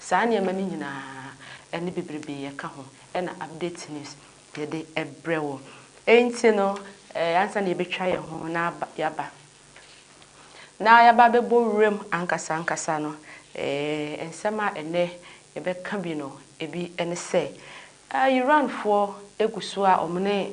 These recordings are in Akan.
Saa nneɛma no nyinaa ne bebrebe yɛka ho na update news yɛde brɛ wo. Enti no ansa na yɛbɛtwa yɛn ho na yɛaba na yɛaba abɛbɔ wuram ankasa ankasa no, nsɛm a ɛnnɛ yɛbɛka bi no, ebi ne sɛ, Iranfoɔ gu so a wɔne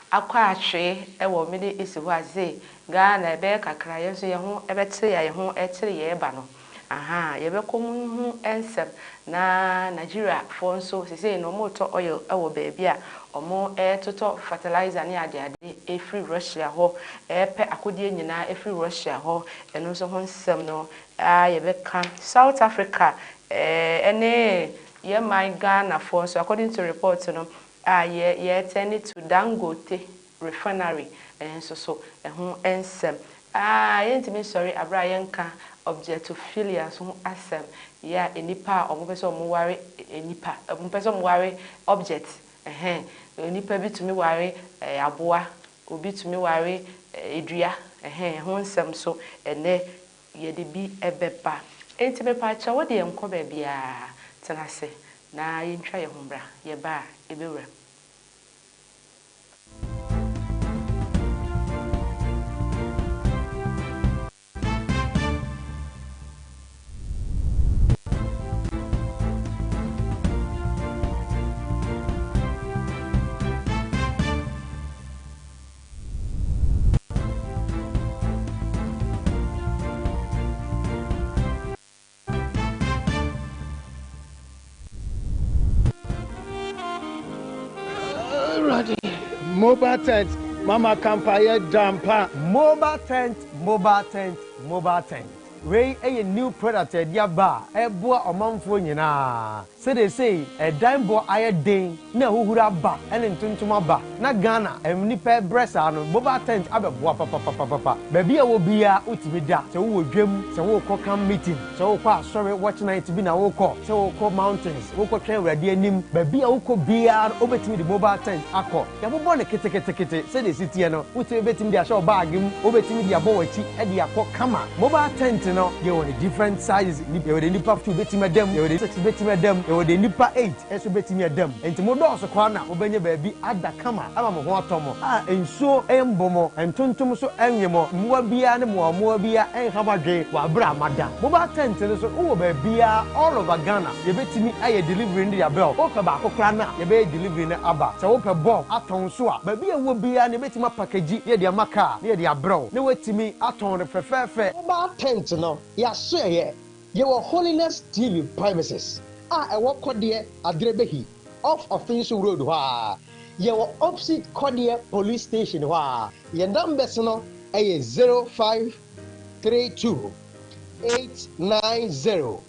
akɔ atwee wɔ Middle East hɔ a sei Ghana ɛbɛyɛ kakra yɛn nso yɛn ho bɛkyere yɛn ho kyere yɛn ba no ahaa yɛbɛkɔ mu ho nsɛm na Nigeria foɔ nso sesei no wɔn tɔ oil wɔ baabi a wɔn totɔ fertilizer ne ade ade ɛfiri Russia hɔ ɛpɛ akodeɛ nyinaa ɛfiri Russia hɔ ɛno nso ho nsɛm no aa yɛbɛka South Africa ɛne yɛn man Ghana foɔ nso according to report no A Yɛ yɛɛtɛ ne to Dangote refinery nso so ɛho nsɛm. A Yɛntumi nsɔre aberɛ a yɛnka objectophilias ho asɛm, yɛ a nnipa a wɔpɛ sɛ wɔware nnipa, wɔpɛ sɛ wɔware objects, ɛhɛn, onipa bi tumi ware aboa, obi tumi ware dua, ɛhɛn, ɛho nsɛm nso ɛnnɛ Yɛde bi bɛba. Enti mepaakyɛw wo deɛ nkɔ baabiara, tena ase na yɛntwa yɛn ho mmra. Yɛba a, yɛbɛwura mu. Mobile tent mama kampaeɛ da mpa. Mobile tent mobile tent mobile tent wei yɛ new product a yɛde aba a ɛboa ɔmanfoɔ nyinaa Sereesei ɛdan bɔ ayɛ den na ahuhuro aba ne ntontom aba na Ghana nnipa ɛbrɛ saa no mobile tent abɛboa papapapapa. Baabi a ɛwɔ biara wotumi da, sɛ wowɔ dwam, sɛ worekɔ camp meeting, sɛ worekɔ asɔre watch night bi na worekɔ, sɛ worekɔ mountains, worekɔtwɛn Awurade anim, baabi a wokɔ biara no wobɛtumi de mobile tent akɔ. Yɛabobɔ no keteketekete sɛdeɛ ɛsi teɛ no. Wotumi bɛtumi de ahyɛ wo bag mu, wobɛtumi de abɔ w'akyi de akɔ kama. Mobile tent no, yɛwɔ no different sizes, yɛwɔ deɛ nnipa two bɛtumi ada mu, yɛwɔ deɛ six bɛtumi ada mu, yɛwɔ deɛ nnipa eight nso bɛtumi ada mu. Enti modɔɔso koraa na mobɛnya baabi ada kama ama mo ho atɔ mo a nsuo mmɔ mo, ntontom nso nnwe mo, mmoa biara ne mmoawammoawa biara nnha mo adwene wɔ aberɛ a moada. Mobile tent no nso wowɔ baabiara all over Ghana. Yɛbɛtumi ayɛ delivery no de abɛ o, wopɛ baako koraa no a yɛbɛyɛ delivery no aba. Sɛ wopɛ bulk atɔn nso a, baabi a wowɔ biara no yɛbɛtumi apackage yɛ de ama car na yɛde abrɛ wo na woatumi atɔn no fɛfɛɛfɛ. Mobile tent no, yɛasoɛeɛ. Yɛwɔ Holiness TV premises a ɛwɔ Kɔdeɛ Aderebehi off Ɔfinsu Road hɔ ara. Yɛwɔ opposite Kɔdeɛ Police Station hɔ ara. Yɛn numbers no yɛ zero five three two eight nine zero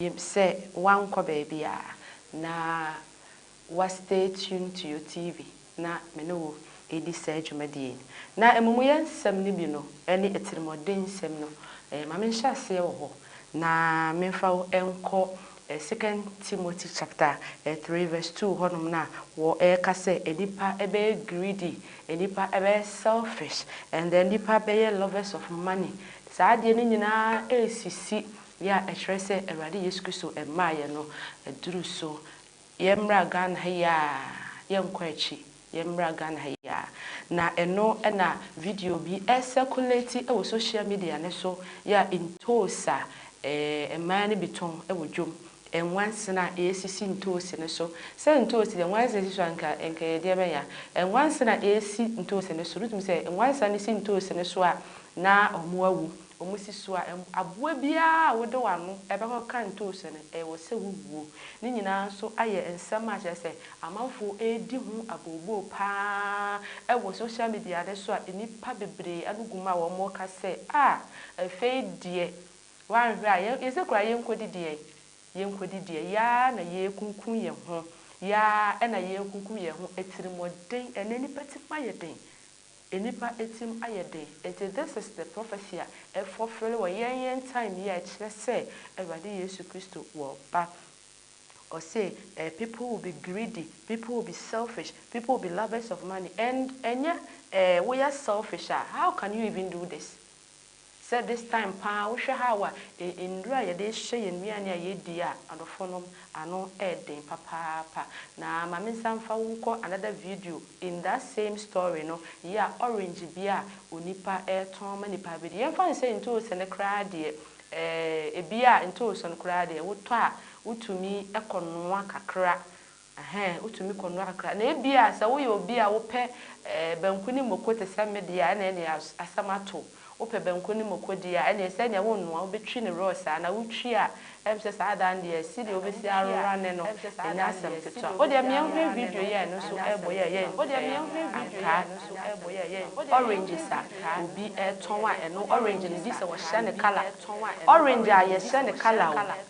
Yɛ sɛ woankɔ baabiara na wa stay tuned to your TV na me ne wo ɛdi saa dwumadie yi. Na amumuyɛ nsɛm no bi no ɛne atirimuɔden nsɛm no, ma me nhyɛ aseɛ wɔ hɔ na me mfa wo nkɔ Second Timothy chapter three verse two hɔ nom no a wɔ ɛka sɛ nnipa bɛyɛ greedy, nnipa bɛyɛ selfish and then nnipa bɛyɛ lovers of money. Saa adeɛ no nyinaa ɛresisi Yɛ a ɛkyerɛ sɛ Awurade Yesu Kristo mmaa yɛn no aduru so. Yɛmmra Ghana ha yi ara, yɛnkɔ akyi, yɛmmra Ghana ha yi ara. Na ɛno na video bi ɛresɛkulati wɔ sohyia midia no so, yɛ a ntoosi a mmaa no bi tɔn wɔ dwom, nwansena a ɛresisi ntoosi no so. Sɛ ntoosi deɛ nwansena si so a, anka anka ɛyɛ deɛ bɛn ya? Nwansena a ɛresi ntoosi no so, wotumi sɛ nwansena no si ntoosi no so a, Na wɔawu. Wɔn si so a, aboa biara a wode w'ano bɛkɔ ka ntoosi no, ɛwɔ sɛ wuwuo. Ne nyinaa nso ayɛ nsɛm a kyerɛ sɛ amanfoɔ redi ho abooboo pa ara wɔ social media no so a nnipa bebree ano gu mu a wɔreka sɛ, Ah, afei deɛ woanhwɛ a yɛn, yɛsɛ koraa yɛnkɔdi deɛn? Yɛnkɔdi deɛ? Yɛn ara na yɛrekunkum yɛn ho. Yɛn ara na yɛrekunkum yɛn ho. Atirimuɔden, ɛnnɛ nnipa tirim ayɛ den. Nnipa tirim ayɛ den, enti this is the prophecy a ɛfɔfele wɔ yɛn yɛn time yi a ɛkyerɛ sɛ Awurade Yesu Kristo wɔ ba. Ɔse eh people will be greedy, people will be selfish, people will be lovers of money and ɛnyɛ eh woyɛ selfish a how can you even do this? Sɛ this time paa wohwɛ how a nnuro a yɛde hyɛ yɛn nnuane a yɛdi a adɔfoɔ nom ano ɛɛden papaapa. Na ma me nsa mfa wo nkɔ another video in that same story no yɛ a orange bi a onipa ɛɛtɔn ma nipa bɛdi. Yɛmfa no sɛ ntoosi no koraa deɛ ɛɛ ebi a ntoosi no koraa deɛ wotɔ a wotumi kɔ noa kakra Ɛhɛn, wotumi kɔ noa kakra. Na ebia sɛ woyɛ obi a wopɛ eh, banku ne moko te sɛ me deɛ a, ɛna ɛne as, asɛm ato. Wopɛ banku ne moko deɛ a, ɛneɛ sɛdeɛ wonnoa, wobɛtwi no raw saa. Na wotwi a, ɛm sɛ saa da no deɛ, sɛdeɛ wobɛsi arane no, ɛnyɛ asɛm ketewa. Wodeɛ meɛnhwɛ video yi a ɛno nso ɛɛbɔ yɛ a, ɛyɛ nfɛɛ. Ankaa, oranges a obi ɛɛtɔn a, ɛno orange no bi sɛ wɔhyɛ no colour. Orange a yɛhyɛ no colour o.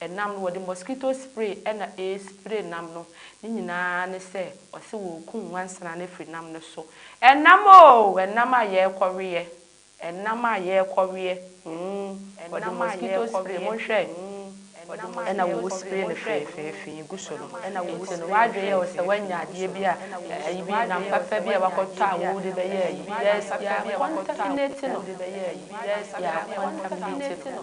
Ɛnam no wɔde mosquito spray na ɛrespray nam no, ne nyinaa ne sɛ wɔse wɔrekum nwansena no afiri nam no so. Ɛnam oo! Ɛnam a yɛrekɔweɛ, ɛnam a yɛrekɔweɛ mm, wɔde mosquito spray, monhwɛ ɛna wɔwu spray no feefeefee gu so no, nti no w'adwene yɛ wo sɛ woanya adeɛ bi a ayi bi, nam papa bi a woakɔtɔ a wode bɛyɛ ayi, yɛacontaminate no, yɛacontaminate no.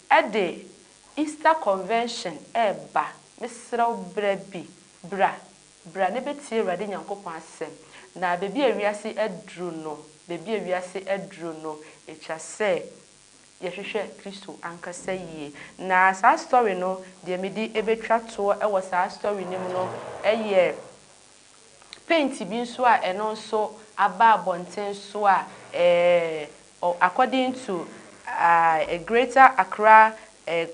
Ɛde Easter convention reba, mesrɛ wo bra bi, bra, bra ne bɛtie Awurade Nyankopɔn asɛm. Na baabi a wiase aduru no, baabi a wiase aduru no, ɛtwa sɛ yɛhwehwɛ Kristo ankasa yie. Na saa story no, deɛ mede bɛtwa toɔ wɔ saa story no mu no yɛ paint bi nso a ɛno nso aba abɔnten so a According to a Greater Accra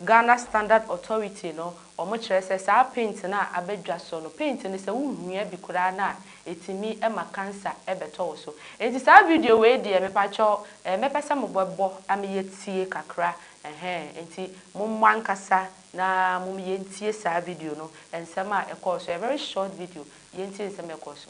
Ghana Standard Authority no, wɔn kyerɛ sɛ saa paint no a abɛdwa so no, paint no sɛ wo hua bi koraa no a ɛtumi ma cancer bɛtɔ wo so. Nti saa video wei deɛ mepakyɛw mɛpɛ sɛ mo bɛ bɔ na me yɛ tie kakra ɛhɛn nti mo mmɔ ankasa na mo me yɛ ntie saa video no nsɛm a ɛkɔɔ so, a very short video, yɛ ntie nsɛm a ɛkɔɔ so.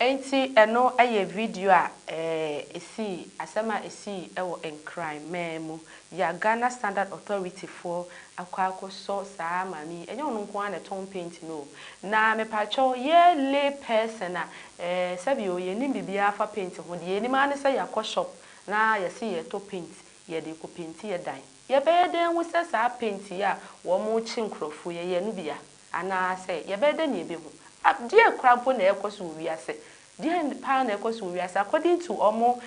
Enti ɛno yɛ video a ɛsii, asɛm a ɛsii wɔ Nkran man mu. Yi a Ghana Standard Authority foɔ akɔ akɔsɔ saa maame yi, ɛnyɛ ɔno nko ara na ɛtɔn paint no o. Na mepakyɛw, yɛ lay person a, eh, sɛbi o, yɛnnim biribiara afa paint ho, deɛ yɛnim ara ne sɛ yɛakɔ shop na yɛse yɛretɔ paint, yɛde rekɔ painti yɛ dan. Yɛbɛyɛ dɛn ahu sɛ saa paint yi a wɔrekye nkurɔfoɔ yi, ɛyɛ no bi a? Anaasɛ yɛbɛyɛ dɛn na yɛbɛhu? Deɛn koraa mpo na ɛrekɔ so wɔ wiase? Deɛn paa na ɛrekɔ so wɔ wiase? According to wɔn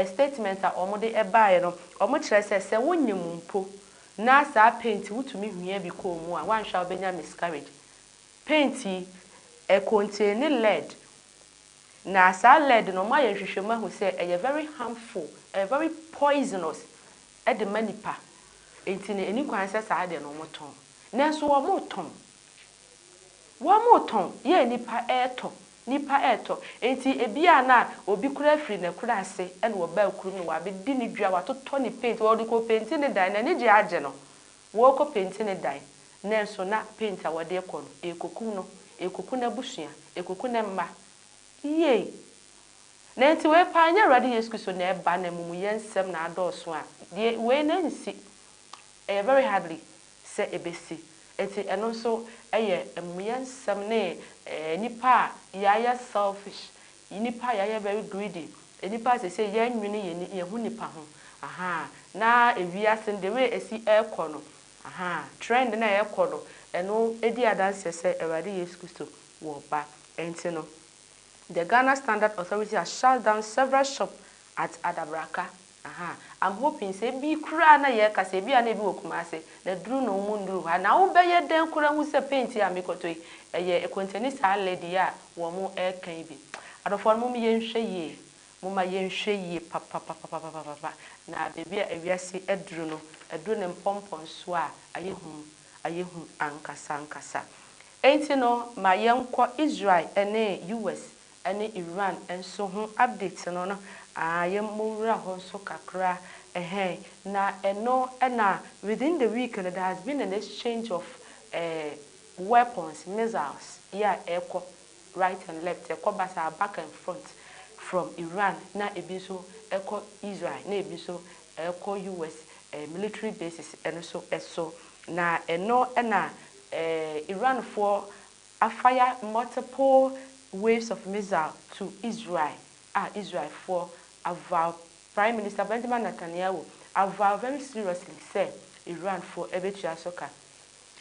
statement a wɔde baeɛ no, wɔkyerɛ sɛ, sɛ wonyem mpo na saa paint wotumi hwie bi kɔ wo mu a, woanhwɛ a wobɛnya miscarriage. Paint yi, ɛ contain lead. Na saa lead no, wɔayɛ nhwehwɛmu ahu sɛ ɛyɛ very harmful, ɛyɛ very poisonous de ma nipa. Enti no, ɛni kwan sɛ saa adeɛ no wɔtɔn. Nanso wɔretɔn. Wɔretɔn. Yɛ nnipa retɔ. Nnipa retɔ. Enti ebia na obi koraa firi n'akurase na ɔbaa kurom na wabɛdi ne dwa, watotɔ ne paint, ɔde rekɔpenti ne dan. N'ani gye agye no. Wɔrekɔpenti ne dan. Nanso na paint a wɔde rekɔ no, ɛrekɔkum no. Ɛrekɔku n'abusua. Ɛrekɔku ne mma. Yei! Na enti wei paa nyɛ Awurade Yesu Kristo na ɛreba na amumuyɛ nsɛm na adɔɔso a, deɛ wei na ɛnsi. Ɛyɛ very hardly sɛ ɛbɛsi. Nti ɛno nso yɛ amumuyɛ nsɛm ne nnipa a yɛayɛ selfish, nnipa a yɛayɛ very greedy, nnipa a seesei yɛnnwene yɛn ani, yɛn ho nipa ho, ahaa, na wiase no the way ɛsi ɛrekɔ no, ahaa, trend no a ɛrekɔ no, ɛno di adanseɛ sɛ Awurade Yesu Kristo wɔ ba. Ɛnti no, the Ghana Standard Authority has shut down several shop at Adabraka Ahaa I'm hoping sɛ ebi koraa na yɛreka sɛ ebi a na ebi wɔ Kumase na aduru na ɔmo nnuru ha na wobɛyɛ dɛn koraa ahu sɛ paint yi a mekɔtɔ yi ɛyɛ ɛkɔntani saa lady yi a wɔn ɛreka yi bi Adɔfoɔ no mom yɛnhwɛ yie moma yɛnhwɛ yie papapapapapapa na baabi a ewiase aduru no aduru ne mpɔmpɔnsoɔ a ayɛ hu ayɛ hu ankasa ankasa Enti no ma yɛnkɔ Israel ne US ɛne Iran nso ho update no no aa yɛmmɔ nwura hɔ nso kakra ɛhɛn na ɛno na within the week no there has been an exchange of eh weapons, missiles yi a ɛkɔ right and left ɛkɔ basaa back and front from Iran na ebi nso ɛkɔ Israel na ebi nso ɛkɔ US eh military bases ɛno nso ɛso na ɛno na eh Iranfoɔ a fire multiple waves of missile to Israel a Israel foɔ avaw Prime Minister Benjamin Natanyahu avaw very seriously sɛ Iran foɔ ɛbɛtua so ka.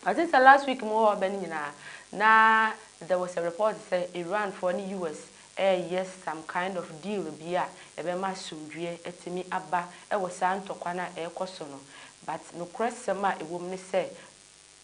I think sɛ last week mo wɔ bɛ no nyinaa na there was a report sɛ Iran foɔ ne US ɛɛyɛ some kind of deal bi a ɛbɛma asomdwoeɛ atumi aba ɛwɔ saa ntɔkwa no a ɛɛkɔ so no but nokorɛ sɛm a ɛwɔ mu ne sɛ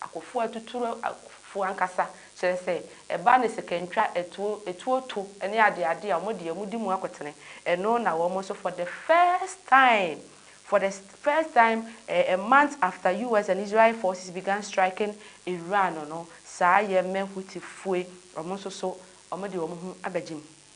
Akofo atuturu fo ankasa, kyerɛ sɛ, ɛba ne sikantwa, atuo, atuo to ne adeade a wɔn deɛ wɔn di mu akotene, ɛno na wɔn nso for the first time, for the first time a a month after US and Israel forces began striking Iran no, saa Yemen Houthi foe, wɔn nso so wɔn de wɔn ho abɛgye mu.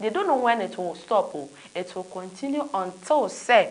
They don't know when it will stop o, it will continue until sɛ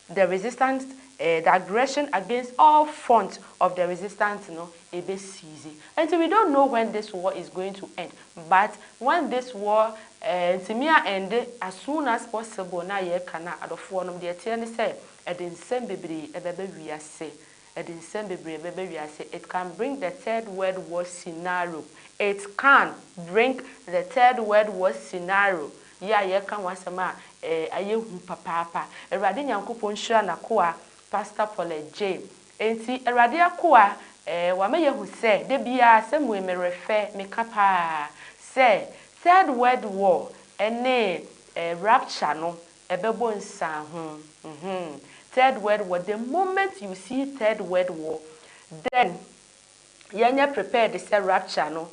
the resistance eh, the aggression against all front of the resistance no ɛbɛ cease. Ɛnti we don't know when this war is going to end but when this war eh, ntumi a ɛnde as soon as possible na yɛka no a, adɔfoɔ nom, deɛ ɛteɛ ne sɛ ɛde nsɛm bebree ɛbɛba wiase Ɛde nsɛm bebree bɛba wiase it can bring the third world war scenario it can bring the third world war scenario yi a yɛreka ho asɛm a ɛyɛ hu papaapa Awurade Nyankopɔn nhyira N'akoa Pastor Paulette Jay Enti Awurade akoa eh wama yɛahu sɛ da biara sɛ mue merɛ fɛ meka paa sɛ third world war ne eh rapture no Ɛbɛbɔ nsiaho mhmm third world war the moment you see third world war then yɛnyɛ prepared sɛ rapture no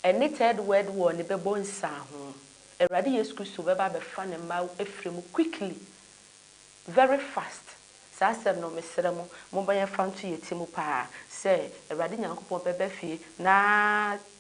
ɛne third world war no bɛbɔ nsiaho Awurade Yesu Kristo bɛba abɛfa ne mma afiri mu quickly very fast saa asɛm no mesrɛ mo momma yɛmfa nto yɛn ti mu paa sɛ Awurade Nyankopɔn bɛba fie na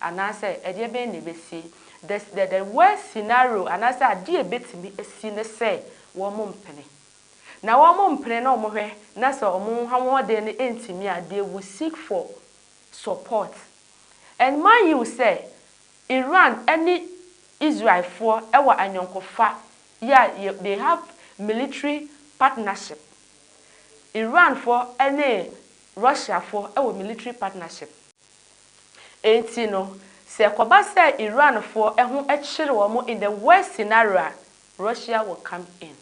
Anaasɛ ɛdeɛ bɛn na ɛbɛsi? The the the worst scenario anaasɛ adeɛ a ɛbɛtumi asi ne sɛ wɔmpene. Na wɔmpene na wɔhwɛ na sɛ wɔn ahoɔden no ntumi a, they will seek for support. And mind you sɛ Iran ne Israelfoɔ wɔ ayɔnkofa, yeah, they have military partnership. Iranfoɔ ne Russiafoɔ wɔ military partnership. Enti no, sɛ ɛkɔba sɛ Iranfoɔ ho kyere wɔn in the worst scenario a, Russia will come in.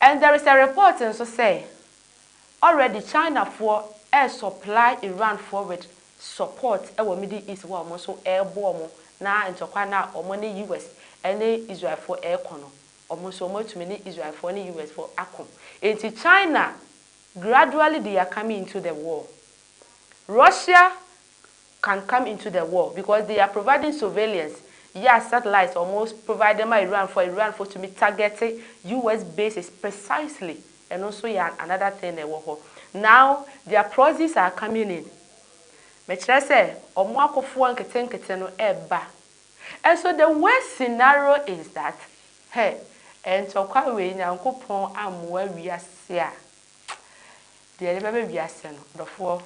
And there is a report nso sɛ, already Chinafoɔ resupply Iranfoɔ with support wɔ Middle East hɔ a wɔn nso rebɔ wɔn na ntɔkwa no a wɔn ne US ne Israelfoɔ rekɔ no, wɔn nso wɔatumi ne Israelfoɔ ne USfoɔ ako. Enti China Gradually they are coming into the war. Russia can come into the war because they are providing surveillance, yɛa satellites a wɔn provide ma Iranfoɔ a Iranfoɔ tumi targete US bases precisely, ɛno nso yɛ an another thing na ɛwɔ hɔ. Now their proxies are coming in, mekyerɛ sɛ wɔn akofoɔ nketenkete no ɛreba And so the worst scenario is that hey ntɔkwa wei Nyankopɔn ammoa wiase a deɛ ɛde bɛba wiase no dɔfoɔ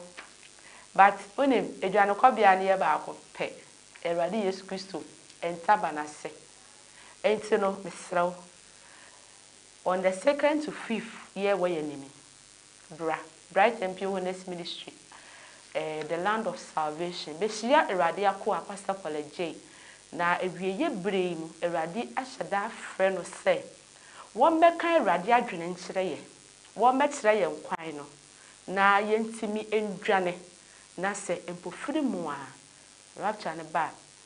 but wonim adwanekɔbea no yɛ baako pɛ Awurade Yesu Kristo ntaban ase nti no mesrɛ wo on the second to fifth yɛ wɔ yɛn anim Bra, Brighton Pure Holiness Ministry, eh, The Land of Salvation, behyia Awurade akoa, Pastor Paula Jay, na awieeɛ berɛ yi mu Awurade ahyɛ da afrɛ no sɛ wɔmmɛka Awurade adwene nkyerɛ yɛn, wɔmmɛkyerɛ yɛn kwan no, na yɛntumi nnwane, na sɛ mpofirim a, rapture no ba a,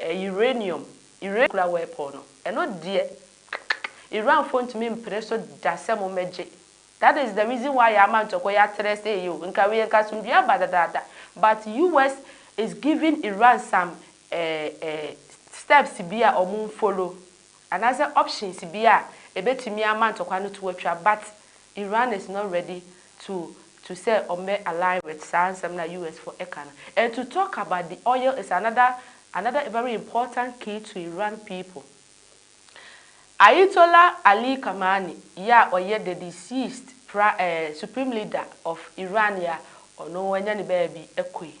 Ɛɛ uranium Iran kura wɔ ɛpɔw no ɛno deɛ kkkk Iran foɔ ntumi mpere so da sɛ mo mmɛgye that is the reason why yɛama ntɔkwa yi atrɛ sɛ yie o nka wei nka asomdwie aba dadaada but US is giving Iran some ɛɛ ɛɛ steps bi a wɔn nfollow Anaasɛ options bi a ebetumi ama ntɔkwa no to atwa but Iran is not ready to to sɛ ɔmbɛ align with saa nsɛm no a US foɔ ɛka no. And to talk about the oil is another another very important key to Iran people. Ayetollah Ali Khamenei yɛ a ɔyɛ the deceased pra eh supreme leader of Iran yɛ a ɔno wanya ne baabi ɛkɔ yi.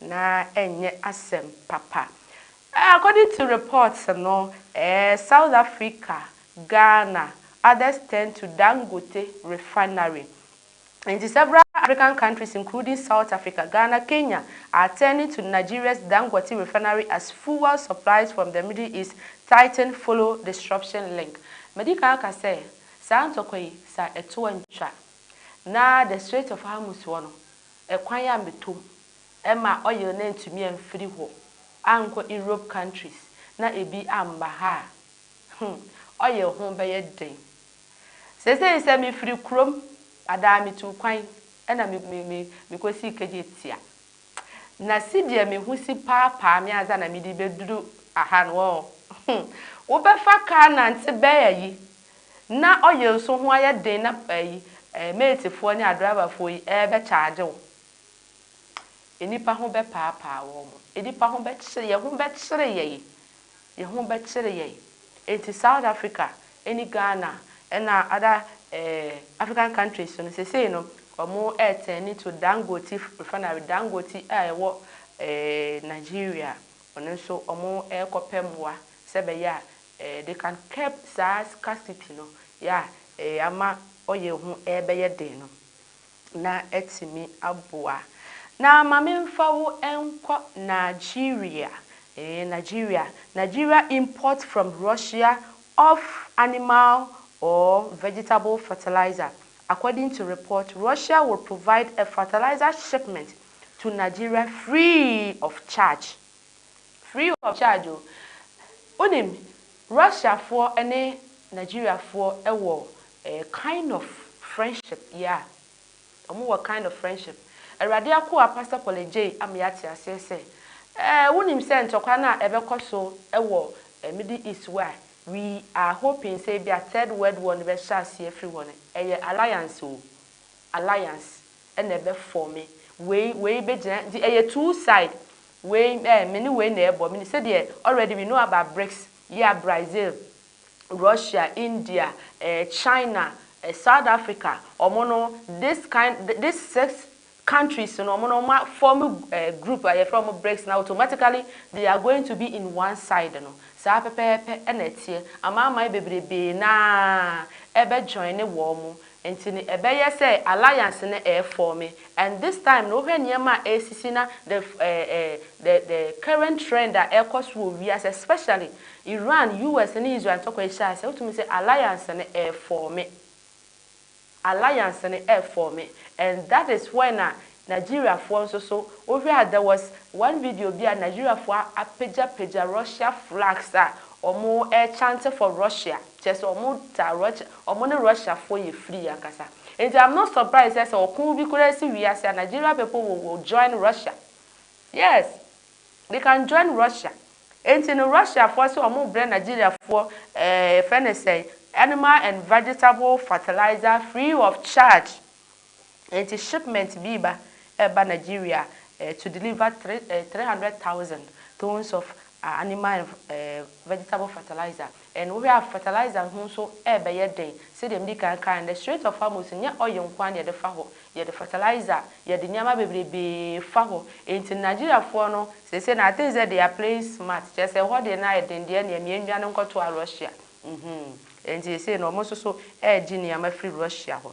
Na ɛnyɛ asɛm papa. According to reports no, eh, South Africa, Ghana, others turned to Dangote refinery. Enti several African countries including South Africa, Ghana, Kenya are turning to Nigeria's Dangote refinery as fuel supplies from the Middle East tighten follow disruption link. Madi kan aka sɛ saa ntɔkwa yi, sɛ ɛto a ntwa na the Strait of Hormuz hɔ no, Ɛkwan a metom ɛma oil no antumi amfiri hɔ ankɔ Europe countries na ebi amma ha a, hmm, oil ho bɛyɛ dɛn? Seesei sɛ mefiri kurom anaa metu kwan na me, me, me, mekɔsi Kejeti a, na sedeɛ me ho si paapaa me ansa na mede bɛduru aha no ɔɔ, hmm, wobɛfa kaa nante bɛn ayi Na ɔyɛ nso ho ayɛ den na ɛyi ɛɛ meetifoɔ ne adrɔbafoɔ yi ɛɛbɛ kyaagye wo. Nnipa ho bɛ paapaa wɔn mo. Nnipa ho bɛ kyere yɛ ho bɛ kyere yɛi. Yɛ ho bɛ kyere yɛi. Nti South Africa ɛne Ghana ɛna other ɛɛ African countries so no sesei no wɔn ɛɛtɛɛni to Dangote refinery Dangote a ɛwɔ ɛɛ Nigeria wɔn nso wɔn ɛɛkɔ pɛ mmoa sɛ bɛyɛ a Eh they can curb saa scarcity no ya eh ama ɔyɛ ho ɛbɛyɛ den no na atumi aboa na ma me nfa wo nkɔ Nigeria eh Nigeria Nigeria import from Russia of animal or vegetable fertilizer according to report Russia will provide a fertilizer shipment to Nigeria free of charge. Free of charge o. Wonim, Russiafoɔ ne Nigeriafoɔ wɔ a kind of friendship, yeah, wɔn wɔ kind of friendship. Awurade akoa Pastor Paul Adjei ama yɛate aseɛ sɛ, eh, wonim sɛ ntɔkwa no a ɛbɛkɔ so wɔ Middle East hɔ a, we are hoping sɛ ebia Third World War no bɛhyɛ aseɛ afiri hɔ no, ɛyɛ alliance o, alliance. ɛna ɛbɛ fɔme wei wei bɛ gyina nti ɛyɛ two side wei ɛɛ me ne wei na ɛbɔ me ne sɛdeɛ already we know about bricks yea Brazil Russia India ɛɛ China ɛɛ South Africa ɔmo no this kind this six countries no ɔmo no ɔmo a fɔme ɛɛ group a yɛfrɛ ɔmo bricks na automatically they are going to be in one side no saa pɛpɛɛpɛ ɛna ɛteɛ amanaman bebrebee naa ɛbɛ joine wɔn Nti no ɛbɛyɛ sɛ alliance no ɛɛ forme and this time no wohwɛ nneɛma a ɛɛsisi na the eh eh the the current trend a ɛɛkɔ so wɔ wiase especially Iran, US ne Israel ntɔkwa yi hyɛ aseɛ a wotumi sɛ alliance no ɛɛ forme. Alliance no ɛɛ forme and that is when a Nigeriafoɔ nso so, wohwɛa there was one video bi a Nigeriafoɔ apagya pagya Russia flags a ɔmo ɛkyante for Russia, kyerɛ sɛ ɔmo taa Russia, ɔmo ne Russiafoɔ yɛ free ankasa. Nti am not surprised sɛ sɛ ɔko bi koraa si wiase a Nigeria people will will join Russia, yes they can join Russia, nti no Russiafoɔ se ɔmo brɛ Nigeriafoɔ ɛɛ yɛfrɛ no sɛn animal and vegetable fertilizer free of charge Enti shipment bi reba ɛreba Nigeria to deliver three eh three hundred thousand tons of animal and eh vegetable fertilizer and wohwɛ a fertilizer ho nso ɛrebɛyɛ den sɛdeɛ medi kan kaeɛ no the strait of Hormuz no nyɛ oil nko ara na yɛde fa hɔ yɛde fertilizer yɛde nneɛma bebrebee fa hɔ enti Nigeriafoɔ no seesei no I think sɛ they are playing smart kyerɛ sɛ ɛhɔ deɛ no ayɛ den deɛ ɛneɛ mmea nnwane nkɔtoa Russia mhm enti seesei no wɔn nso so ɛregye nneɛma firi Russia hɔ.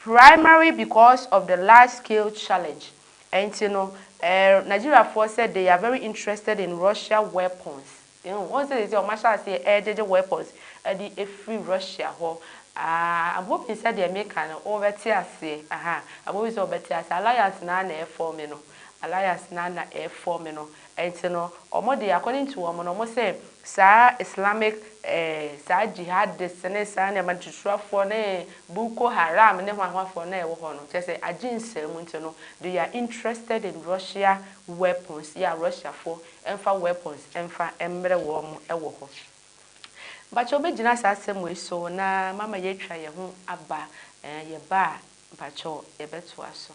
Primary because of the large scale challenge ɛnti no ɛɛr Nigeria foɔ sɛ they are very interested in Russia weapons ehu wohu sɛ seisei ɔmo ahyɛ aseɛ ɛɛgyegye weapons ɛde ɛfiri Russia hɔ aah I'm hoping sɛ deɛ meka no wo bɛ te aseɛ ahaa I'm hoping sɛ wo bɛ te aseɛ alliance no ara na ɛɛfɔɔme no alliance no ara na ɛɛfɔɔme no Ɛnti no ɔmo deɛ according to ɔmo no ɔmo se saa Islamic eh saa jihadist ne saa nneɛma no tutuafoɔ ne Boko Haram ne hwan hwan foɔ no a ɛwɔ hɔ no kyɛsɛ agye nsaa mu nti no they are interested in Russia weapons ya Russia foɔ ɛnfa weapons ɛnfa ɛmmerɛ wɔn ɛwɔ hɔ. Mpakyɛw bɛgyina saa asɛm wei so na mama yɛatwa yɛn ho aba eh yɛba a mpakyɛw yɛbɛtoa so.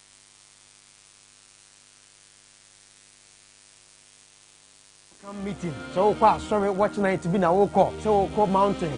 Come meeting sɛ wokɔ asɔre watch night bi na wokɔ sɛ wokɔ mountain.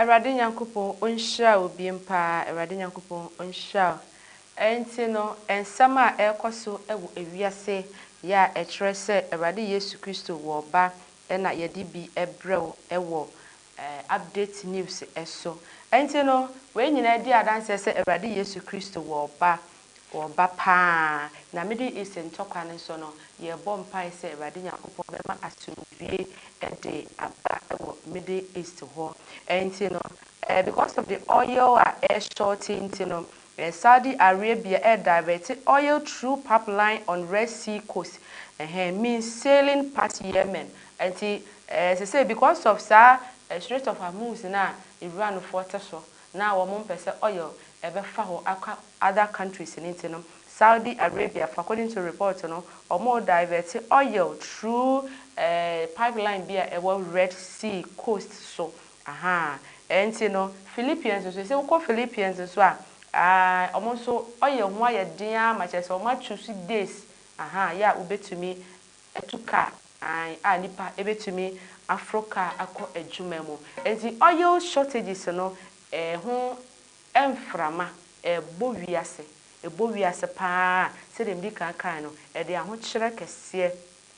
Awurade Nyankopɔn ɔnhyira wo biom paa Awurade Nyankopɔn ɔnhyira wo Ɛnti no nsɛm a ɛrekɔ so wɔ ewiase yɛ a ɛkyerɛ sɛ Awurade Yesu Kristo wɔ ba na yɛde bi brɛ wo wɔ ɛɛ, Update News so. Enti no, wei nyinaa di adanseɛ sɛ Awurade Yesu Kristo wɔ ɔba, wɔ ɔba pa ara. Na Middle East ntɔkwa no nso no, yɛrebɔ mpaeɛ sɛ Awurade Nyankopɔn bɛma asomdwoeɛ de aba wɔ Middle East hɔ. Enti no, ɛɛ, because of the oil a ɛreshɔɔte nti no, Ɛɛ Saudi Arabia ɛɛ diverte oil through pap line on red sea coast ɛhɛɛ means sailing past Yemen ɛnti ɛɛ sesei because of saa ɛɛ strait of Hormuz no a Iran foɔ te so na wɔn mpɛ sɛ oil ɛbɛ fa hɔ akɔ other countries no nti no Saudi Arabia fo according to report no wɔn oo diverte oil through ɛɛ pipe line bi a ɛwɔ red sea coast so Ahaa, ɛnti no Philippians nso, sɛ wokɔ Philippians nso a, aah, ɔmo nso ɔyɛ ho ayɛ den ara ma kyerɛ sɛ ɔmo achuusu days, ahaa, yɛ a wobɛtumi atu car, aah, a nipa ɛbɛtumi aforo car akɔ adwuma mu. Ɛnti oil shortages no, ɛho mframa, ɛbɔ wiase, ɛbɔ wiase paa, sɛdeɛ medi kan kaeɛ no, ɛde ahokyerɛ kɛseɛ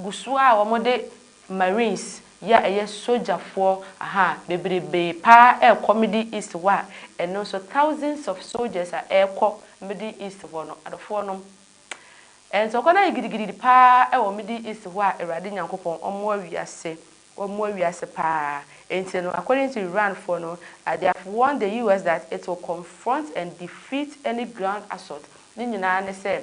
Gusoɔ a wɔde Marines yɛ a ɛyɛ sogyafoɔ aha bebrebee paa ɛrekɔ Middle East hɔ a ɛno nso thousands of soldiers a ɛrekɔ Middle East hɔ no adɔfoɔ nom ɛnso ɔkwan ayɛ gidigididi paa ɛwɔ Middle East hɔ a Awurade Nyankopɔn ɔmmoa wiase ɔmmoa wiase paa ɛnti no according to Iran foɔ no they have warned the US that it will confront and defeat any ground assault ne nyinaa ne sɛ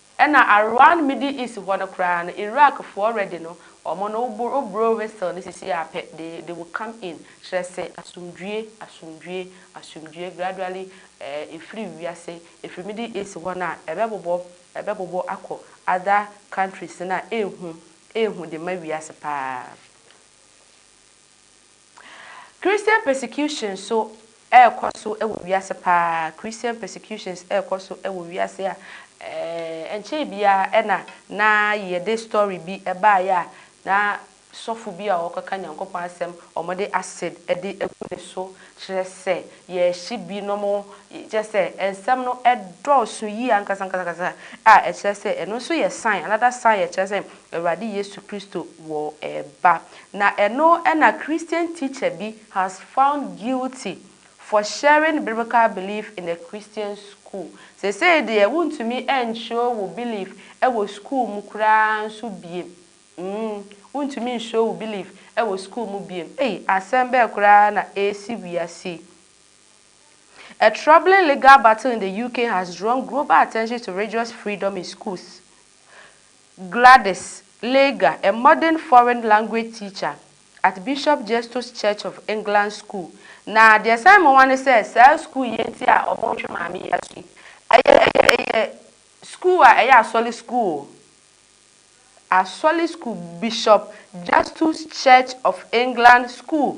Ɛna around middle east hɔ no koraa no Iraq foɔ ready no ɔmo no wo bro whistle no sisi a pɛ they they will come in kyerɛ se asomdwie asomdwie asomdwie gradually eh efiri wiase efiri middle east hɔ no a ɛbɛbobɔ ɛbɛbobɔ akɔ other countries no a ehu ehu de ma wiase paa. Christian persecutions so ɛɛkɔ so wɔ wiase paa Christian persecutions ɛɛkɔ so wɔ wiase a ɛnkyɛɛ biaa ɛna na yɛde story bi ɛbaeɛ a na sɔfo bi a ɔɔkɔka Nyankopɔn asɛm ɔmo de acid de agu ne so kyerɛ sɛ yɛɛhye bi nom kyerɛ sɛ nsɛm no ɛdɔɔso yie ankasankasakasa a ɛkyerɛ sɛ ɛno nso yɛ sign another sign a ɛkyerɛ sɛ Awurade Yesu Kristo wɔ ba. Na ɛno na Christian teacher bi has found guilty for sharing biblical belief in a Christian school. Seesei deɛ wontumi nkyerɛw wo belief wɔ school mu koraa nso biem. Mm, wontumi nkyerɛw wo belief wɔ school mu biem. Ei, asɛm bɛn koraa na ɛresi wiase yi? A troubling legal battle in the UK has drawn global attention to religious freedom in schools Gladys Lager, a modern foreign language teacher at Bishop Justus Church of England School, na deɛ ɛsan mu wa ne sɛ saa sukuu yi nti a wɔretwe maame yi aso yi, ɛyɛ ɛyɛ sukuu a ɛyɛ asɔre sukuu o, asɔre sukuu, Bishop Justus Church of England School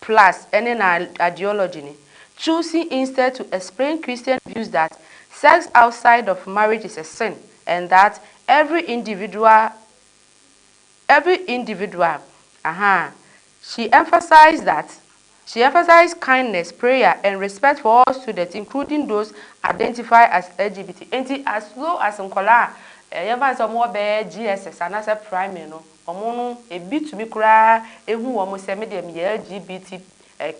Plus ne na ideology ne, Choosing instead to explain Christian views that sex outside of marriage is a sin and that every individual every individual ahaa She emphasized that She emphasized kindness, prayer and respect for all students including those identify as LGBT. Enti as low as nkwadaa a yɛmfa no sɛ wɔwɔ bɛyɛ GSS anaasɛ primary no, Wɔn no ebi tumi koraa hu wɔn sɛ me deɛ meyɛ LGBT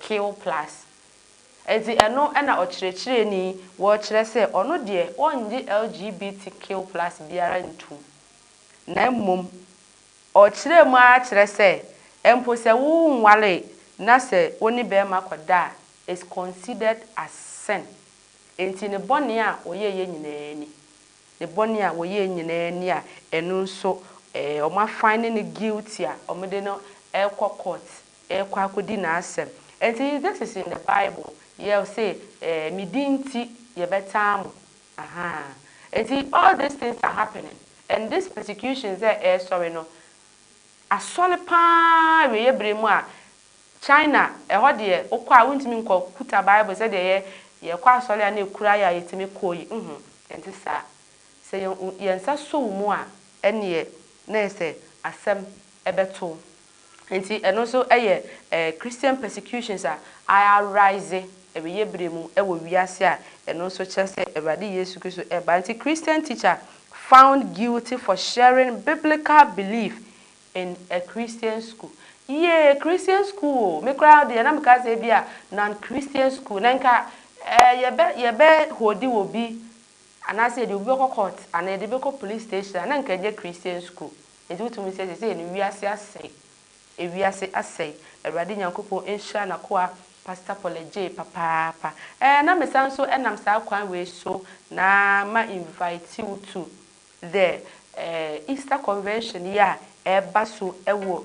Q plus. Enti ɛno na ɔkyerɛkyerɛni rekyerɛ sɛ ɔno deɛ ɔnnye LGBT Q plus biara ntom. Na mmom ɔkyerɛɛ mu ara kyerɛ sɛ mpo sɛ wo nwaree na sɛ wo ne barima kɔda a it's considered as sin. Enti ne bɔne a ɔyɛeɛ nyinaa ni. Ne bɔne a wɔyɛɛ nyinaa ni a ɛno nso wɔn afan ne no guilty a wɔde no rekɔ court rekɔ akɔdi n'asɛm. Ɛnti this is in the bible yɛ ɔse me din nti yɛbɛtaa mo ahaa ɛnti all this things are happening and this persecutions a ɛresɔre no asɔre paa awieɛ berɛ mu a China, ɛhɔ deɛ wokɔ a wontumi nkɔ kuta Bible sɛdeɛ yɛ yɛkɔ asɔre a na ɛkura yɛ a yɛtumi kɔ yi, nhu. Ɛnte saa. Sɛ yɛn wo yɛn nsa sɔ wo mu a, ɛnneɛ na ɛyɛ sɛ asɛm bɛto wo. Enti ɛno nso yɛ eh, Christian persecutions a arise awieeɛ berɛ mu wɔ wiase a ɛno nso kyerɛ sɛ Awurade Yesu Kristo reba. Enti Christian teacher found guilty for sharing biblical belief in a Christian school Yea Christian school o me koraa deɛ na me ka sɛ ebia non Christian school na nka eh yɛ bɛ yɛ bɛ holdi wɔ bi anaa sɛ yɛde obi bɛkɔ court anaa yɛde bɛkɔ police station a na nka ɛnyɛ Christian school nti wo tumi sɛ sɛsɛ no wiase asɛe ewiase asɛe Awurade Nyankopɔn nhyira nakoa Pastor Polegye papaapa eh na me san nso ɛnam saa kwan wei so na ma invite wo to The Easter Convention yi a ɛreba so wɔ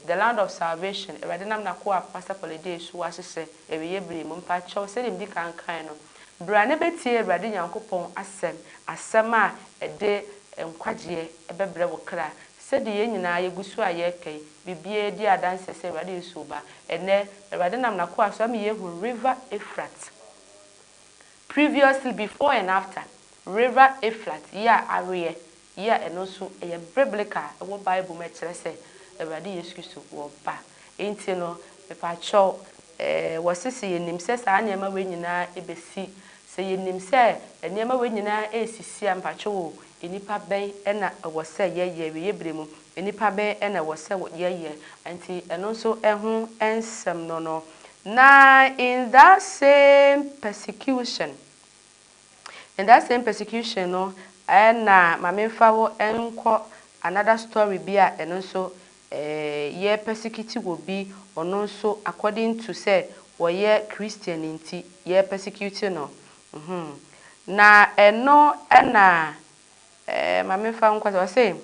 The Land of Salvation, Awurade Nam N'akoa Pastor Kɔlɛdee so ahyehyɛ awieɛ berɛ mu. Mpakyɛw, sɛdeɛ medi kan kae no, bra na bɛtie Awurade Nyankopɔn asɛm, asɛm a ɛde nkwagyeɛ bɛbrɛ wo kra. Sɛdeɛ yɛn nyinaa yɛgu so a yɛreka yi, biribiara di adanseɛ sɛ Awurade Yesu reba. Ɛnnɛ, Awurade nam N'akoa so ama yɛahu River Eufrate. Previously Before and After River Efrat yɛ a aweɛ yɛ a ɛno nso ɛyɛ Biblical a ɛwɔ Bible mu ɛkyerɛ sɛ Awurade Yesu Kristo ɔɔba nti no mepakyɛw ɛɛ wɔse sɛ yɛnim sɛ saa nneɛma wei nyinaa ɛbɛsi sɛ yɛnim sɛ nneɛma wei nyinaa ɛɛsisi a mepakyɛw o Nnipa bɛn na ɛwɔ sɛ yɛyɛ? Awieyɛ bere mu nnipa bɛn na ɛwɔ sɛ yɛyɛ? Enti ɛno nso ho nsɛm no no. Na in that same persecution, in that same persecution no na ma memfa wo nkɔ another story bi a ɛno nso yɛ persecute wɔ bi, ɔno nso according to sɛ ɔyɛ Christian nti yɛ persecute no. Mhmm na ɛno na eh ma menfa nkɔ sɛ ɔse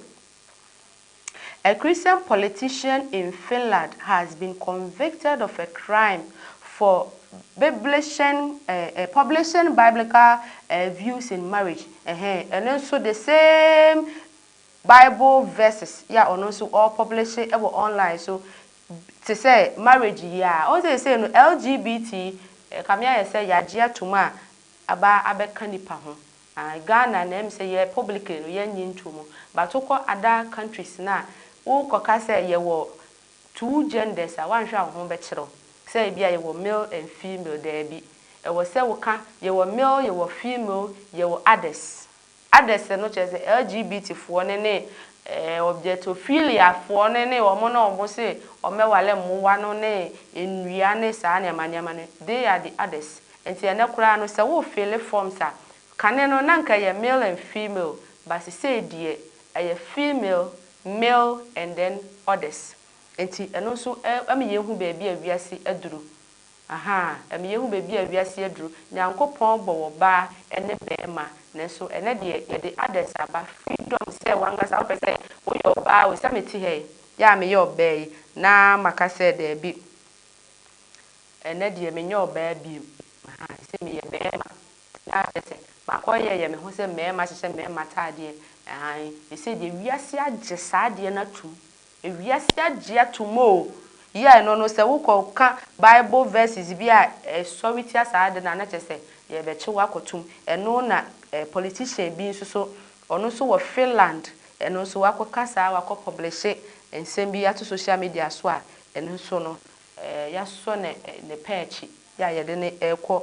A Christian politician in Finland has been convicted of a crime for biblishing eh publishing biblical eh views in marriage ɛhɛn ɛno nso the same bible verses yɛ a ɔno nso ɔrepublishe wɔ online so te sɛ marriage yi aa ɔhu sɛ sesei no LGBT ɛkame ayɛ sɛ yagye atom a aba abɛka nipa ho aah Ghana na ɛm sɛ yɛ publicly no yɛnnye ntomu but wokɔ other countries no a wo kɔka sɛ yɛwɔ two genders a woanhwɛ a wo ho bɛkyere wo sɛ ebia yɛwɔ male and female daabi ɛwɔ sɛ woka yɛwɔ male yɛwɔ female yɛwɔ others Adɛsɛ no kyerɛ sɛ LGBT foɔ no ne eh, objectophilia foɔ no ne wɔn na wɔn se wɔmmɛware mmoa no ne nnua ne saa nneɛma nneɛma no, they are the others. Nti ɛnnɛ koraa no sɛ wo fille forms a, kane no na nka ɛyɛ male and female but sesei deɛ ɛyɛ female, male and then others. Nti ɛno nso eh, ɛma yɛhu baabi a wiase aduru. Ahaa, ɛma yɛhu baabi a wiase aduru. Nyankopɔn bɔ wɔ baa ɛne bɛɛma, nanso ɛnɛ deɛ yɛde others aba, freedom sɛ wankasa wopɛ sɛ woyɛ ɔbaa o, sɛ mete ha yi, yɛ a meyɛ ɔbaa yi, na maka sɛ daabi, ɛnɛ deɛ menyɛ ɔbaa biom, ahaa, sɛ meyɛ bɛɛma, na kyerɛ sɛ makɔ yɛ yɛ me ho sɛ mɛɛma, hyehyɛ mɛɛma ataadeɛ, ahaa, sesei deɛ wiase agye saa adeɛ no atum, Ewiase agye atom o! Yɛ ɛno no sɛ wokɔ ka bible verses bi a ɛsɔre tia saa ade no a na kyerɛ sɛ yɛbɛkye wo akɔ tom. Ɛno na politician bi nso so ɔno nso wɔ Finland ɛno nso wakɔ ka saa wakɔ pɔblehye nsɛm bi ato social media so a ɛno nso no yɛasɔ ne pɛ akyi yɛ a yɛde no ɛkɔ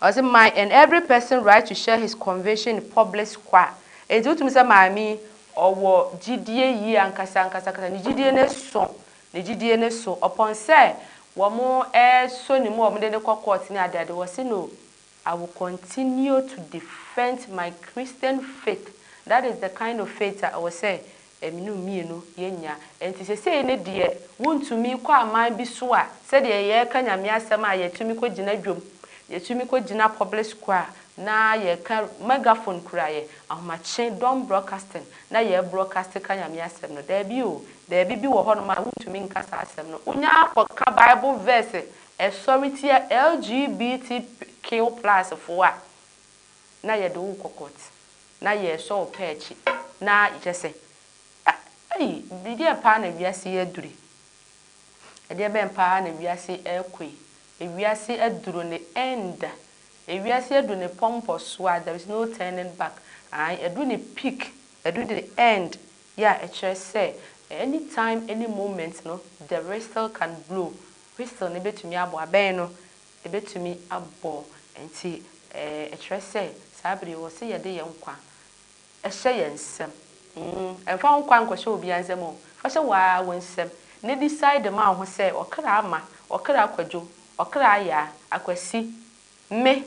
Ɔse my and every person right to share his conviction in public square enti wotumi sɛ maame yi ɔwɔ gyidie yie ankasa ankasa ankasa ne gyidie no so ne gyidie no so upon sɛ wɔn ɛɛsɔ ne mu a wɔn de no kɔ court ne ade ade wɔse no I will continue to defend my Christian faith that is the kind of faith a ɛwɔ sɛ Ɛme no mmienu yɛ nya. Ɛnti sesei no deɛ wontumi kɔ aman bi so a sɛdeɛ yɛɛka Nyame asɛm a yɛtumi kɔ gyina dwom, yɛtumi kɔ gyina public school a na yɛɛka megaphone kura yɛ ahomakye dɔm broadcasting na yɛɛ broadcast ka Nyame asɛm no. Daabi o, baabi bi wɔ hɔ nom a wontumi nka saa asɛm no. Wonya kɔ ka bible verse ɛsɔre tia LGBTQ plus foɔ a. na yɛde wo kɔ court na yɛsɔ wo pɛ akyi na kyɛsɛ ei ɛdeɛn paa na wiase yi aduru yi ɛdeɛ bɛn paa na wiase yi ɛrekɔ yi ewiase aduru ne end ewiase aduru ne pɔmpɔ so a there is no turning back ae aduru ne peak aduru ne end yɛ a ɛkyerɛ sɛ any time any moment no the whistle can blow whistle no bɛtumi abɔ abɛn no Ɛbɛtumi abɔ nti ɛkyerɛ sɛ saa bere yi wɔ se yɛde yɛn nkwa hyɛ yɛn nsam. Mfa wo nkwa nkɔhyɛ obiara nsam o, fa hyɛ wo ara wo nsam na decide ma wo ho sɛ ɔkra Ama, ɔkra Kwadwo, ɔkra Ayaa, Akwasi, me,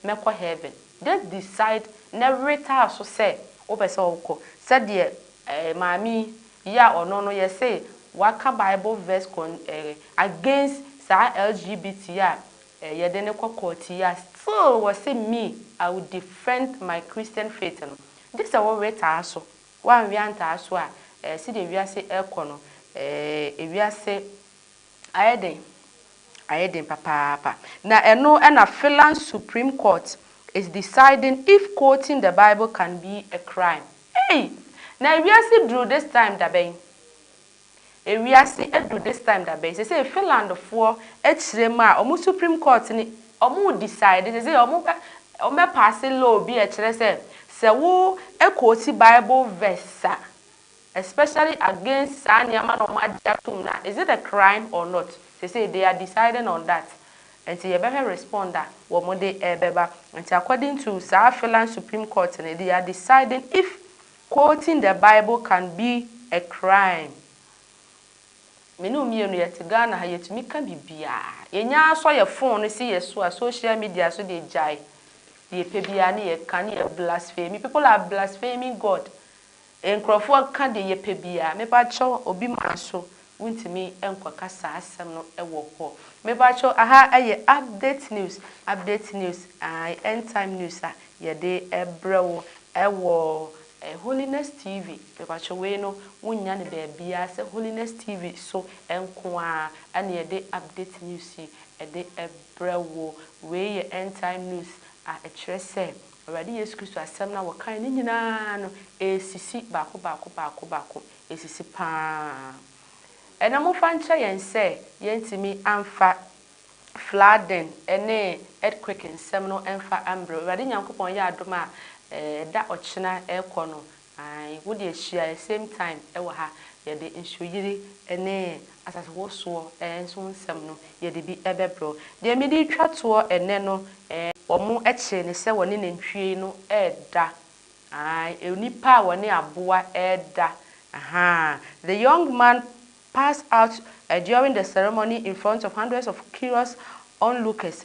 mɛkɔ heaven just decide na were taa so sɛ wopɛ sɛ wokɔ sɛdeɛ eh maame yi a ɔno no yɛse waka bible verse con eh against saa LGBT yi a eh yɛde no kɔ court yi a still wɔse me I will defend my Christian faith no gye sɛ wo were taa so woanwe antaa so a eh sedeɛ wiase ɛkɔ no eh ewiase Ayɛ den, ayɛ den papaapa. Na ɛno na Finland's Supreme Court is deciding if quoting the Bible can be a crime. Ei! Na ewiase duru this time da bɛn? Ewiase aduru this time da bɛn? Seesei Finlandfoɔ akyerɛ mu a wɔn Supreme Court no wɔredecide, seesei wɔbɛ, wɔbɛpaase law bi a ɛkyerɛ sɛ, sɛ wo quote Bible verse a, Especially against saa nneɛma na wɔn agye atom no a, is it a crime or not? Seesei they are deciding on that. Nti yɛbɛhwɛ respond a wɔn de ɛbɛba. Nti according to saa Finland Supreme Court no, they are deciding if quoting the Bible can be a crime. Me ne wo mmienu yɛte Ghana ha, yɛtumi ka biribiara. Yɛnya ara sɔ yɛn phone no si yɛn so a, social media so deɛ gyae. Deɛ yɛpɛ biara ne yɛka, ne yɛ blaspheme. People are blaspheming God. Nkurɔfoɔ ka deɛ yɛpɛ biara. Mepakyɛw obi mmra so wontumi nkɔka saa asɛm no wɔ hɔ. Mepakyɛw aha yɛ update news update news ae end time news a yɛde brɛ wo wɔ Holiness TV mepakyɛw wei no wonnya no baabiara sɛ Holiness TV so nko ara na yɛde update news yi de brɛ wo wei yɛ end time news a ɛkyerɛ sɛ Awurade Yesu Kristo asɛm no a wɔkae no nyinaa no, ɛresisi baako baako baako baako. Ɛresisi pa ara. Ɛnnɛ momfa nkyerɛ yɛn sɛ yɛantumi amfa flooding ne earthquake nsɛm no mfa ambrɛ wo. Awurade Nyankopɔn yɛ adom a, ɛɛ, da ɔkyena rekɔ no, Ae, wo deɛ hyia yɛ same time wɔ ha, yɛde nsuoyiri ne asasewosoɔ nso nsɛm no yɛde bi bɛbrɛ wo. Deɛ mede retwa toɔ ɛnnɛ no, eh. Wɔkyee no sɛ wɔne nantwie no reda, ae, nnipa a wɔne aboa reda, ahaa. The young man passed out during the ceremony in front of hundreds of curious onlookers,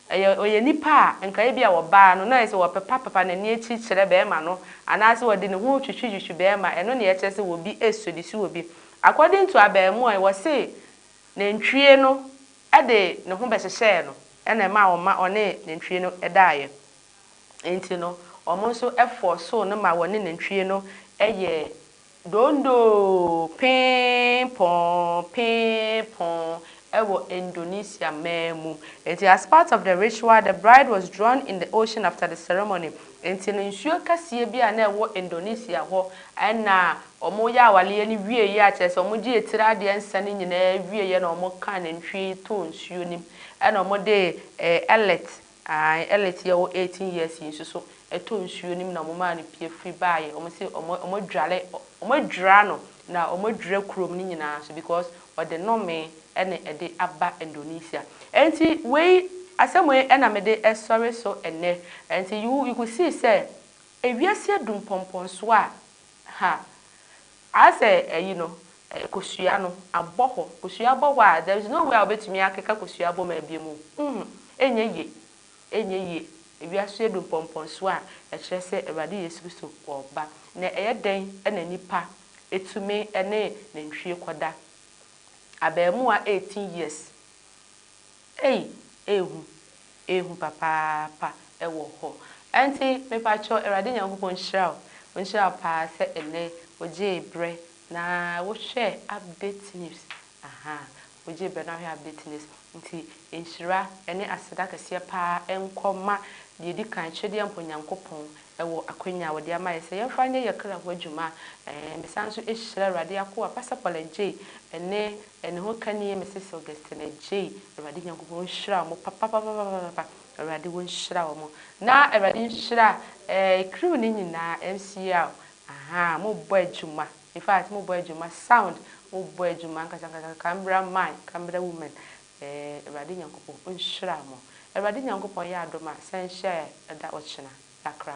Ɛyɛ ɔyɛ nipa a nka ebia ɔbaa no na ayɛ sɛ ɔpepa pepa n'ani akyiri kyerɛ bɛɛma no anaasɛ ɔde ne ho twitwi twitwi bɛɛma ɛno na ɛkyerɛ sɛ ɔbi sɔdi so ɔbi according to abɛɛmoa yi ɔse nantwie no de ne ho bɛhyehyɛɛ no ɛna ɛmaa ɔma ɔne nantwie no daeɛ nti no ɔmo nso fɔɔsoo no ma ɔne nantwie no yɛɛ Dondoo Pee-pong Pee-pong wɔ Indonesia man mu. Enti as part of the ritual, the bride was drawn in the ocean after the ceremony. Enti no nsuo kɛseɛ bi a na ɛwɔ Indonesia hɔ na wɔyɛ awareɛ no wieeɛ a, kyerɛ sɛ wɔgyee tiri adeɛ nsa no nyinaa wieeɛ na wɔkaa nantwie yi too nsuo no mu na wɔde ɛɛ ellet Ae Elite yi a ɔwɔ eighteen years yi nso so ɛtɔ nsuo no mu na ɔmo maa no pie firi baayɛ ɔmo se ɔmo ɔmo adware ɔmo adwira no na ɔmo adwira kurom no nyinaa nso because ɔde nomee ɛna ɛde aba Indonesia ɛnti wei asɛm wei ɛna mede ɛsɔre so ɛnɛ ɛnti you you could see sɛ ewiase adu mpɔmpɔnsoɔ a ha Asɛ ayi no, kosua no, abɔ hɔ. Kosua bɔ hɔ a, there is no way a wobɛtumi akeka kosua bɔ mu abiem o. Humm! Ɛnyɛ yie. Ɛnyɛ yie. Ewiase adu mpɔmpɔnsoɔ a ɛkyerɛ sɛ Awurade Yesu Kristo ɔreba. Na ɛyɛ dɛn na nipa tumi ne nantwie kɔda? Abaamua eighteen years. Ei ehu ehu papaapa ɛwɔ hɔ ɛnti mepakyɛw awurade nyankopɔn nhyira wo onhyira wo paa sɛ ɛnɛ wogyee brɛ na wohwɛ update news ahaa wogyee brɛ na wohwɛ update news nti nhyira ɛne aseda kɛseɛ paa ɛnkɔ ma deɛ ɛdi kan twedeɛmpɔ nyankopɔn ɛwɔ akwanya a wɔde ama yɛ sɛ yɛmfa nyɛ yɛ kra ho adwuma ɛɛ mesan nso hyira awurade akoa pastor paul adjei ɛne Ɛno ho ka nie Mrs Augustine Agyei Awurade Nyankopɔn nhyira wɔn papapapapapa Awurade wo nhyira wɔn na Awurade nhyira eh crew no nyinaa MCL ahaa mo bɔ adwuma in fact mo bɔ adwuma sound mo bɔ adwuma ankasa ankasa Canberra man Canberra women eh Awurade Nyankopɔn nhyira mo Awurade Nyankopɔn yɛ adom a san hyia yɛ ɛda ɔkyena Yɛakra.